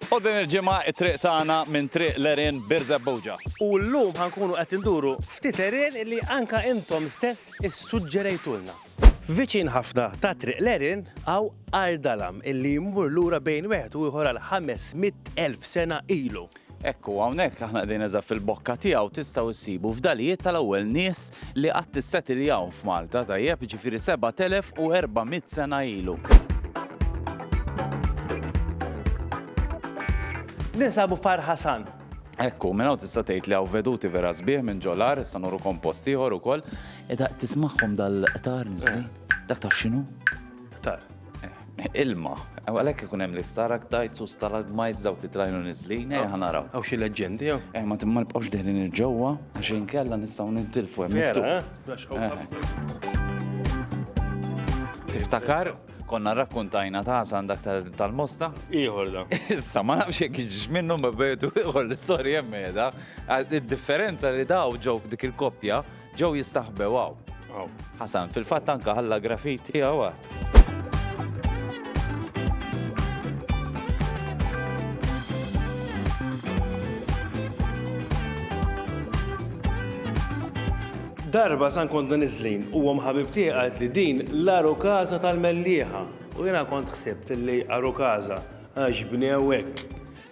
U din il-ġimgħa t-triq tagħna minn Triq l-Għerien, Birżebbuġa. U llum ħa nkunu qed induru ftit għerien li anke intom stess issuġġerejtulna. Viċin ħafna ta' Triq l-Għerien hawn għar dalam li jmur lura bejn wieħed u ieħor għal ħames mitt elf sena ilu. Hekk hu, hawnhekk aħna qegħdin eżatt fil-bokka tiegħu tistgħu ssibu fdalijiet tal-ewwel nies li qatt issetiljaw f'Malta, tajjeb, jiġifieri 7400 sena ilu. Ninsabu f'Għar Ħasan. Hekk hu, minn hawn tista' tgħid li hawn veduti vera sbieħ minn ġo l-għar, issa nurukom post ieħor ukoll. Tismagħhom dal-qtar niżlin? Dak taf x'inhu? Qtar. Ilma. Għalhekk ikun hemm l-istalaktajts u stalagmajts dawk li trajnu niżlin, eh ħanaraw. Hawn xi leġġendi jew? Eh ma timma nibqgħux deħlin il-ġewwa għax inkella nistgħu nintilfu hemm. Vera, eh? Tiftakar konna rakkuntajna ta' għandak tal-mosta? Iħor da. Issa, ma nafx jek ġiġ minnu ma bejtu iħor l-istorja jemmeda. Id-differenza li daw ġok dik il-koppja Ġew jistaħbew hawn. Hawn. Ħasan, fil-fatt anke ħalla grafit tiegħu hawn. Darba san konna nizlin u għom ħabib tiegħi li din l-aru kaza tal-mellieħa. U jena kont xsebt li aru kaza għax bnew hekk.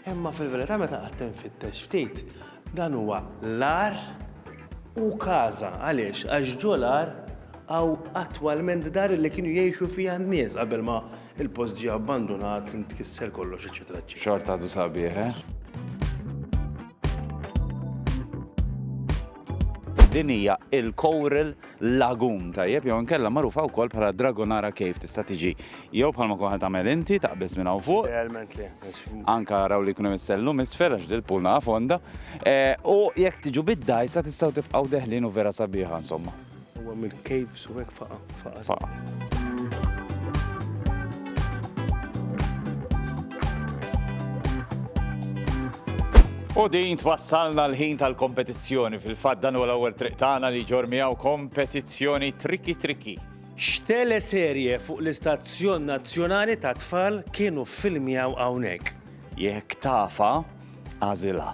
Imma fil-verità meta għattem fit-tex ftit, Dan huwa l-agħar u każa. Għaliex? Għax ġo l-agħar hawn attwalment dar li kienu jgħixu fiha n-nies qabel ma l-post ġie abbandunat, intkisser kollox, eċċetera eċċetera. Xorta għadu sabiħ, eh? Din hija il-coral lagun tajjeb jew inkella magħrufa wkoll bħala Dragonara Cave tista' tiġi jew bħalma kont qed tagħmel inti taqbeż minn hawn fuq. Realment le. Anka raw li jkun hemm is-sellum isfel għax dil-pool naqa' fonda. U jekk tiġu bid-dgħajsa tistgħu tibqgħu deħlin u vera sabiħa insomma. Huwa mill-caves u hekk faqa'. Faqa'. U din twassalna l-ħin tal-kompetizzjoni. Fil-fatt dan huwa l-ewwel triq tagħna li ġor miegħu kompetizzjoni triki triki. X'tele serje fuq l-istazzjon nazzjonali ta' tfal kienu filmjaw hawnhekk? Jekk tafa, għażilha.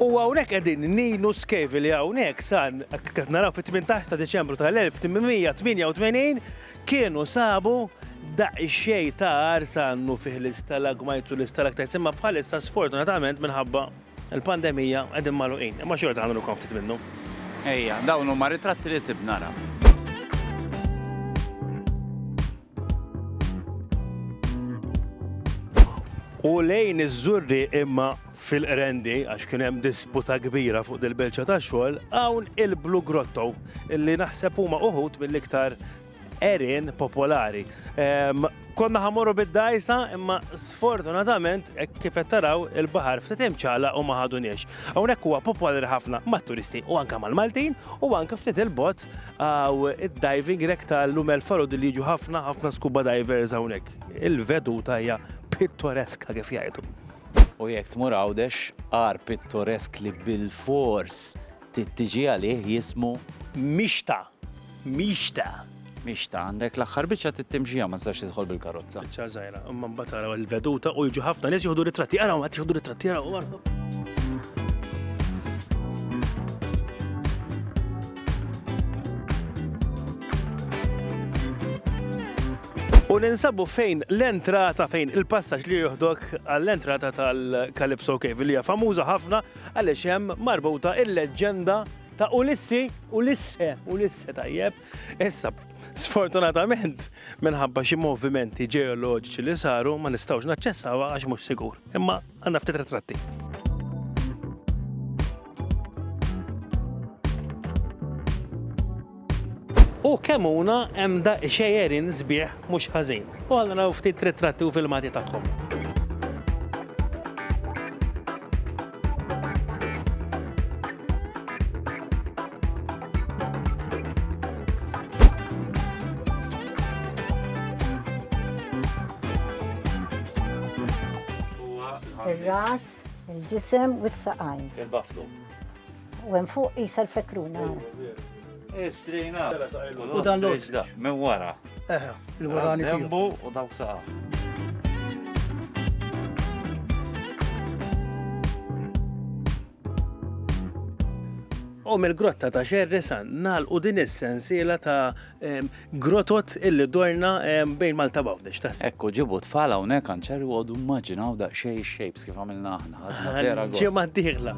U hawnhekk qegħdin ngħinu skjevi li hawnhekk san qed naraw fit-18 ta' Diċembru tal-1888 kienu sabu daqsxejn ta' għarsa għannu fih l-istalagmites u l-istalaktites imma bħalissa sfortunatament minħabba l-pandemija qegħdin magħluqin. Imma xorta ħanurukom ftit minnhom. Ejja, dawn huma ritratti li sibna ra. U lejn iż-Żurrieq imma fil-Qrendi, għax kien hemm disputa kbira fuq dil-Belċa tax-xogħol, hawn il-Blue Grotto, li naħseb huma uħud mill-iktar għerien popolari. Ehm, konna ħamorru bid-dajsa, imma sfortunatament, e kif qed taraw il-baħar ftit imċala u ma ħaduniex. Hawnhekk huwa popolari ħafna mat-turisti u anke mal-Maltin u anke ftit il-bot għaw id-diving rek tal-lumel farod li jiġu ħafna ħafna skuba divers hawnhekk. Il-veduta hija pittoreska kif jgħidu. U jekk tmur Għawdex, għar pittoresk li bilfors trid tiġi għalih jismu Mixta! Mixta! Mixta, għandek l-aħħar biċċa trid timxiha ma tistax tidħol bil-karozza. Biċċa żgħira, imma mbagħad araw il-veduta u jiġu ħafna nies jieħdu ritratti, araw qed jieħdu ritratti, araw araw. U ninsabu fejn l-entrata, fejn il-passaġġ li joħdok għall-entrata tal-Calypso Cave, li hija famuża ħafna għaliex hemm marbuta il-leġġenda ta' Ulissi, Ulisse, Ulisse tajjeb. Issa, sfortunatament, minħabba xi movimenti ġeoloġiċi li saru ma nistgħux naċċessawha għax mhux sigur. Imma għandna ftit ritratti. U kemm huna hemm daqq xejjerin sbieħ mhux ħażin. U ħalli naraw ftit ritratti u filmati tagħhom. Il-ġisem u s-saqajn. Il-baflu. U hemm fuq isa l-fekruna. Istrina. U dan l-oġda. Minn wara. Eħe, l-warani. Dembu u dawk saqa. U mill-grotta ta' xerri san nalqu din is-sensiela ta' Grotot illi dorna bejn Malta Bawdex taħseb. Ekku ġibu tfal hawnhekk kanċer u għodu immaġinaw daqsxejn ix-shapes kif għamilna aħna. Ġimgħa d-dieħla.